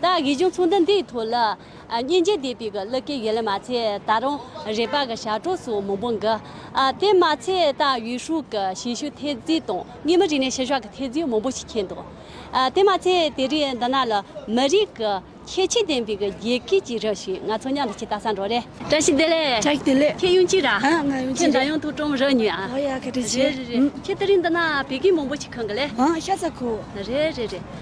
ད་གི་གཞུང་ཚོགས་འདི་འདིའི་ཐོག་ལ། སྙིང་རྗེ་དད་པའི་གི་ལི་ཀའི་ཡི་ལི་མ་ཚེ་ད་རུང་རེད་པ་གི་ཞག་གྲོགས་སུ་མང་པོ་འགི། དེ་མ་ཚད་ད་ཡུས་ཧྲུའུ་གི་ཞིང་ཞུ་ཐེ་ཛི་དང་གཉིས་མི་རིགས་ནས་ཕྱི་ཞོག་གི་ཐེ་ཛི་མང་པོ་ཞིག་ཁེལ་འདུག་དེ་མ་ཚད་དེ་རིང་འདི་ན་ལ་མི་རིགས་གི་ཁྱད་ཆོས་ལྡན་པའི་གི་རྒྱལ་ཁས་ཅིག་རི་ཞིག་ང་ཚོ་མཉམ་དུ་ཆེ་ད་སང་འགྲོ་རེ། བཀྲ་ཤིས་བདེ་ལེགས། བཀྲ་ཤིས་བདེ་ལེགས། ཁྱེད་ཡུན་ཅིག་ར། ཨ་ང་ཡུན་ཅིག་རེད། ཁྱེད་འདྲ་ཡོང་ཐུག་ཀྲོམ་རེ་ཉུལ་ཨ། ཨོ་ཡ་ག་དྲི་ཆེ། རེ་རེ་རེ། ཁྱེད་དེ་རིང་འདི་ན་བད་ཀན་མང་པོ་ཞིག་ཁེང་གི་ལེ། ཨ་ཤ་ཚ་ཁོ། རེ་རེ་རེ།